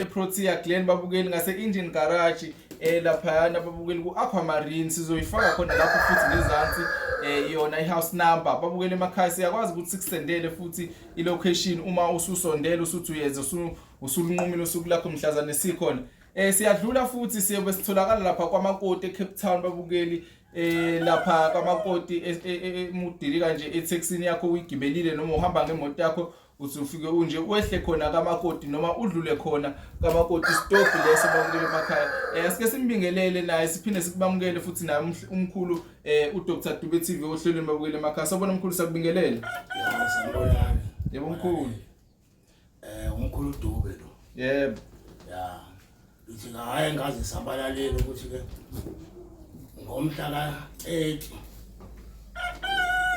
eprotea glen babukeli ngase-indian garage eh laphayana babukeli ku-aquamarine sizoyifaka khona lapho futhi ngezansi eh yona i-house number babukeli emakhaya siyakwazi ukuthi sikusendele futhi i-location uma ususondele usuthi uyenza usulunqumile usuku lakho mhlazane sikhona Eh siyadlula futhi siyobe sitholakala lapha kwamakoti eCape Town babukeli eh lapha kwamakoti e, e, e, emudili kanje etaxini yakho uyigibelile noma uhamba ngemoto yakho usufike unje wehle khona kamakoti noma udlule khona kamakoti stop leso bamukele emakhaya eh sike simbingelele naye siphinde sikubamukele futhi naye umkhulu eh uDr Dube TV ohlelweni babukele emakhaya sabona umkhulu sakubingelele yebo mkhulu Eh umkhulu Dube lo. Yebo. Ya. Uthi hayi ngaze sabalalele ukuthi ke ngomhla ka 30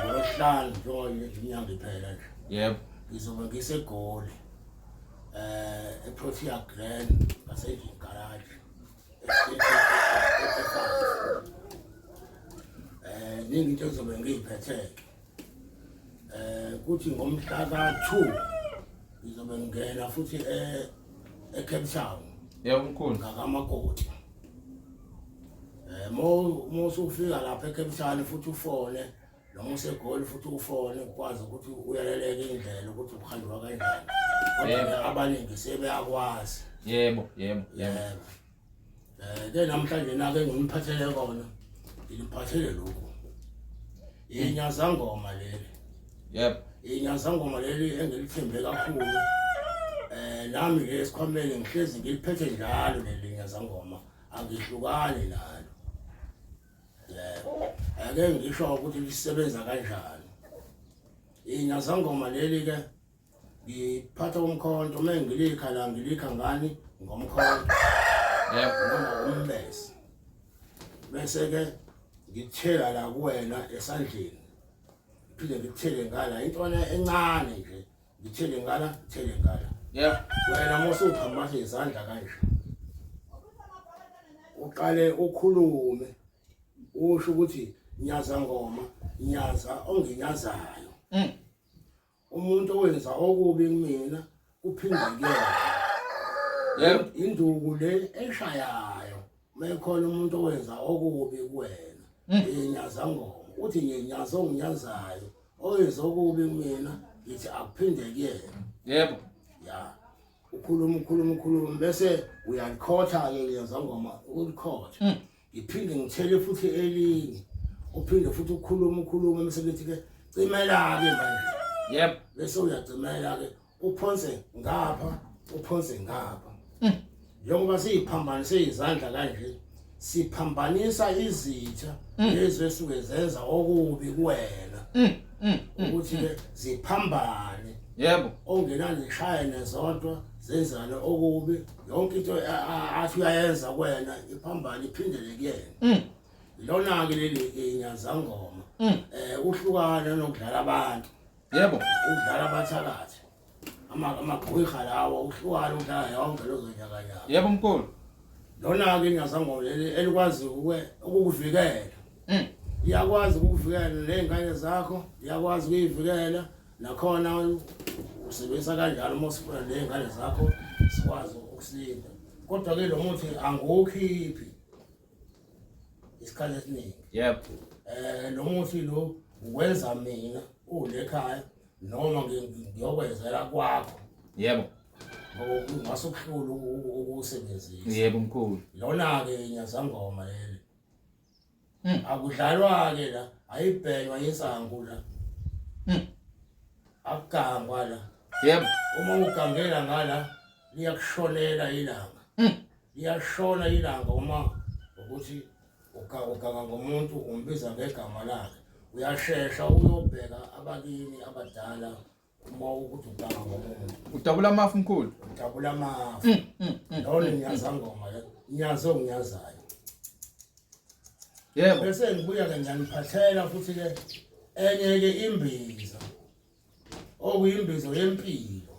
Ngolosihlanu njengoba inyanga iphela nje. Yebo. Ngizobe ngisegoli. Eh eProtea Grand ngaseJin Garage. Eh ningi into ezobe ngiyiphethe. eh kuthi ngomhla ka2 ngizobe ngena futhi eh eCape Town yebo mkhulu ngakamakoti eh mo mo sufika lapha eCape Town futhi ufone noma usegoli futhi ufone ukwazi ukuthi uyaleleke indlela ukuthi uhanjwa kanjani kodwa abaningi sebeyakwazi yebo yebo yebo ke namhlanje nake ngimphathele kona ngiliphathele lokhu inyazangoma leli yep inyazangoma leli engilithembe kakhulu eh nami ke esikhwameni ngihlezi ngiliphethe njalo leli nyazangoma angihlukani nalo eh ake ngisho ukuthi lisebenza kanjani inyazangoma leli ke ngiphatha umkhonto uma ngilikha la ngilikha ngani ngomkhonto yebo noma umbese bese ke ngithela la kuwena esandleni phinde ngithele ngala intwana encane nje ngithele ngala ngithele ngala yebo wena mose uphambase izandla kanje uqale ukhulume usho ukuthi nyaza ngoma nyaza onginyazayo mm. umuntu owenza okubi kumina kuphinde kuyena Yebo. induku le eshayayo mekhona umuntu owenza okubi kuwena yenyaza ngoma uthi ngenyaza onginyazayo owenza okubi kumina ngithi akuphinde kuyena Yebo. ya ukhuluma ukhuluma ukhuluma bese uyalikhotha-ke liyazangoma ulikhotha ngiphinde ngithele futhi elinye uphinde futhi ukhuluma ukhuluma emsebenzi ke cimela ke manje yep bese uyacimela ke uphonse ngapha uphonse ngapha hmm. njengoba siyiphambanise izandla kanje siphambanisa izitha hmm. lezi esuke zenza okubi kuwena hmm, ukuthi ke ziphambane yebo ongenani shayene zodwa zenzane okubi yonke into athi uyayenza kwena iphambane iphindele kuyena mm. lona-ke leli inyazangoma um mm. eh, uhlukane nokudlala abantu yebo ukudlala abathakathi amagwiha lawo uhlukane ukudlala yonke lozonyakanyaka yebo mkulu lona-ke inyazangoma leli elikwazi ukukuvikela mm. iyakwazi ukukuvikela ney'ngane zakho iyakwazi ukuyivikela nakhona usebenzisa kanjalo uma usifuna ney'ngane zakho sikwazi ukusinda kodwa-ke lo muthi angiwukhiphi isikhathi esiningi yep um lo muthi lo uwenza mina ule khaya noma ngiyokwenzela kwakho yebo ngase ukuhlula ukuwusebenzisa yebo mkhulu lona-ke nyazangoma leli Mm. Akudlalwa ke la, ayibhekwa insangu la. Mm. Akugangwa la. Yebo. Uma ugangela ngala liyakushonela ilanga. Mm. Liyashona ilanga uma ukuthi uganga ngomuntu umbiza ngegama lakhe. Uyashesha uyobheka abakini abadala Uma ukuthi udaba ngomuntu. Udabula amafu mkhulu. Udabula amafu. Mm, mm, mm. Lona ngiyaza ngoma ke. Ngiyazo ngiyazayo. Yebo. Bese ngibuya ke ngiyaniphathela futhi ke enye ke imbiza. Okuyimbizo yempilo.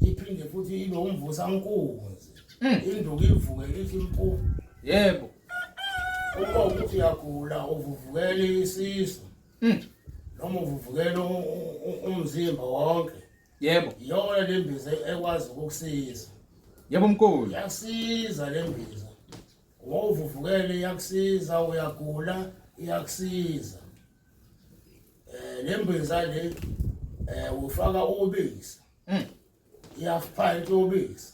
Iphinde futhi ibe umvusa nkunzi. Induku ivuke ithi impu. Yebo. Uma ukuthi uyagula uvuvukela isisu. Mm. Noma uvuvukela umzimba wonke. Yebo. Yona le mbiza ekwazi ukukusiza. Yebo mkhulu. Yasiza le mbiza. Ngoba uvuvukele iyakusiza uyagula iyakusiza. Eh le mbiza le eh ufaka ubisi. Mm. Iyafipha into ubisi.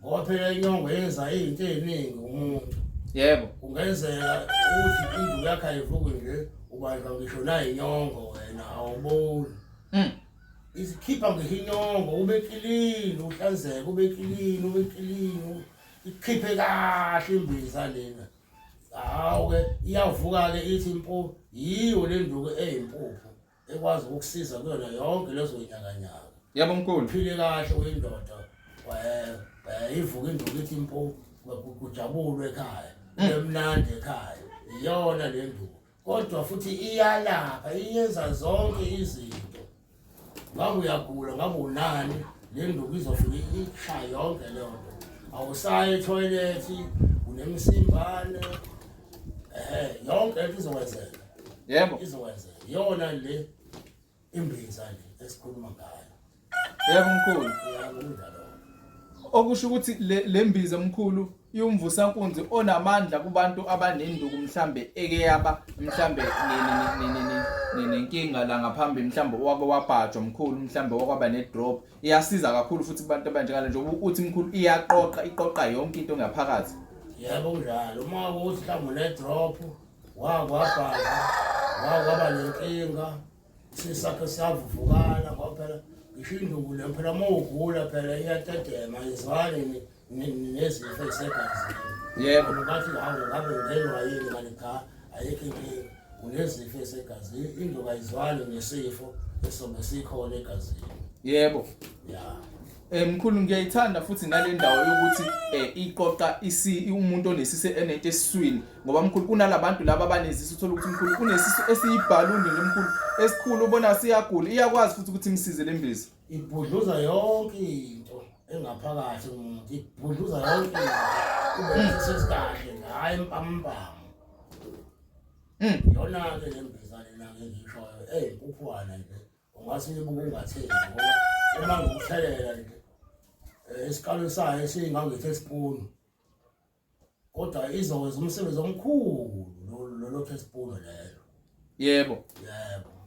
ngoba phela inyongo yenza izinto eziningi umuntu yebo kungenzeka ukuthi indlu yakhe ayivuki nje ubanjwa ngisho nayinyongo wena awuboni mm. isikhipha ngisho inyongo ube kilini uhlanzeke ube kilini ube kilini ikhiphe kahle imbiza lena hawu-ke iyavuka-ke ithi impu yiyo le nduku eyimpuphu ekwazi ukukusiza kuyona yonke lezo nyakanyaka yabo mkhulu phile kahle uyindoda wayivuka induku ithi impu kujabulwe ekhaya mm. emnandi ekhaya iyona le nduku kodwa futhi iyalapha iyenza zonke izinto ngabe uyagula ngabe unani le nduku izofika ishaya yonke leyo nto awusayi ethoyilethi unemsimbane eh yonke into izokwenzeka yebo izokwenzeka yona le imbinza le esikhuluma ngayo yebo mkhulu yebo indaba okusho ukuthi lembiza mkhulu iwumvusankunzi onamandla kubantu abanenduku mhlambe eke yaba mhlambe nenkinga la ngaphambi mhlambe wake wabhajwa mkhulu mhlambe wakwaba ne drop iyasiza kakhulu futhi kubantu abanjengale njengoba uthi mkhulu iyaqoqa iqoqa yonke into ngaphakathi yebo kunjalo uma ukuthi mhlawumbe ne-drop wakwabhala wakwaba nenkinga sisakhe savuvukala kwaphela ngisho induku le phela uma ugula phela iyatetema izwaleni nezifo esegazi yebo bathi hawu ngabe ngenwa yini kanti cha ayikho inkinga unezifo esegazi into kayizwani nesifo esobe sikhona egazini yebo ya Eh mkhulu ngiyayithanda futhi nale ndawo yokuthi eh iqoqa isi umuntu onesise enento esiswini ngoba mkhulu kunalabantu laba abanezisi uthola ukuthi mkhulu unesisu esiyibhaluni lemkhulu esikhulu ubona siyagula iyakwazi futhi ukuthi imsize lembizi ibhudluza yonke into engaphakathi umuntu ibhudluza yonke into sesikahle ngayo impampamu hmm. yona ke le mbiza lena ke ngishoyo ey kukhona nje ungase uyibuke ungatheni ngoba uma ngikuthelela nje eh, esikalweni sayo esingangithe spoon kodwa izokwenza umsebenzi omkhulu lolo teaspoon lelo yebo yebo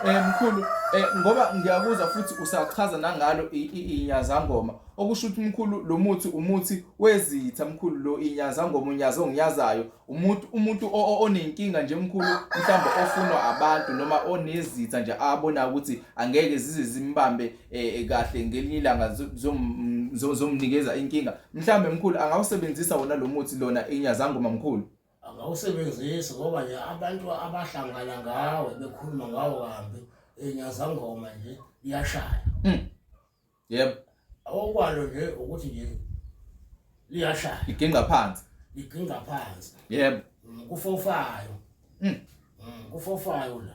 Eh mkhulu eh ngoba ngiyakuzwa futhi usachaza nangalo inyazangoma okusho ukuthi mkhulu lo muthi umuthi wezitha mkhulu lo inyazangoma unyazo ongiyazayo umuntu umuntu onenkinga nje mkhulu mhlawumbe ofunwa abantu noma onezitha nje abona ukuthi angeke zize zimbambe eh, eh, kahle ngelinye ilanga zomnikeza inkinga mhlawumbe mkhulu angawusebenzisa wona lo muthi lona inyazangoma mkhulu angawusebenzisi ngoba nje abantu abahlangana ngawe bekhuluma ngawo kambi inyazangoma nje iyashaya hmm. yebo okwalo nje ukuthi nje liyashaya iginqa phansi iginqa phansi yebo mm, kufofayo mm. mm kufofayo la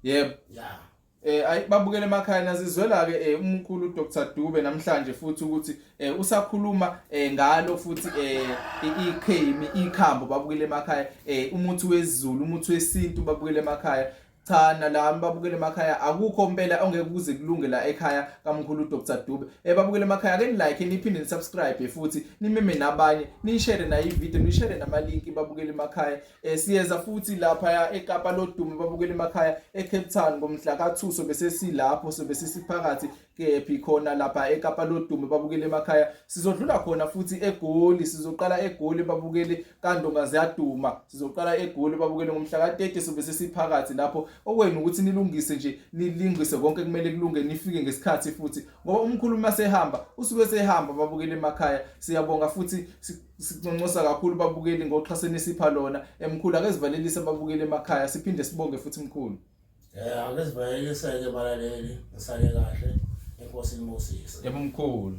yebo yeah eh ayi babukele emakhaya nazizwela ke eh, umkhulu Dr Dube namhlanje futhi ukuthi eh, usakhuluma eh, ngalo futhi eh ikhemi ikhambo babukele emakhaya eh umuthi wezulu umuthi wesintu babukele emakhaya cha nalami babukele emakhaya akukho mpela ongeke kuze kulunge la ekhaya kamkhulu Dr Dube ebabukele eh, emakhaya ke nilike niphinde nisubscribe futhi nimeme nabanye nishare nayo ivideo nishare nama link babukele emakhaya eh, siyeza futhi lapha ya eKapa lodumo babukele emakhaya eCape Town ngomhla ka2 sobe sesilapho sobe sisiphakathi kephi khona lapha eKapa lodumo babukele emakhaya sizodlula khona futhi eGoli sizoqala eGoli babukele kandonga ziyaduma sizoqala egoli babukele ngomhla ka-30 sobe sesiphakathi lapho okwenu ukuthi nilungise nje nilingise konke kumele kulunge nifike ngesikhathi futhi ngoba umkhulu uma sehamba usuke sehamba babukele emakhaya siyabonga futhi siconcosa kakhulu babukeli ngoxhaso enisipha lona emkhulu akezivalelise babukeli emakhaya siphinde sibonge futhi mkhulu eh akezivalelise-ke balaleli ngisale kahle enkosi nimosise yebo mkhulu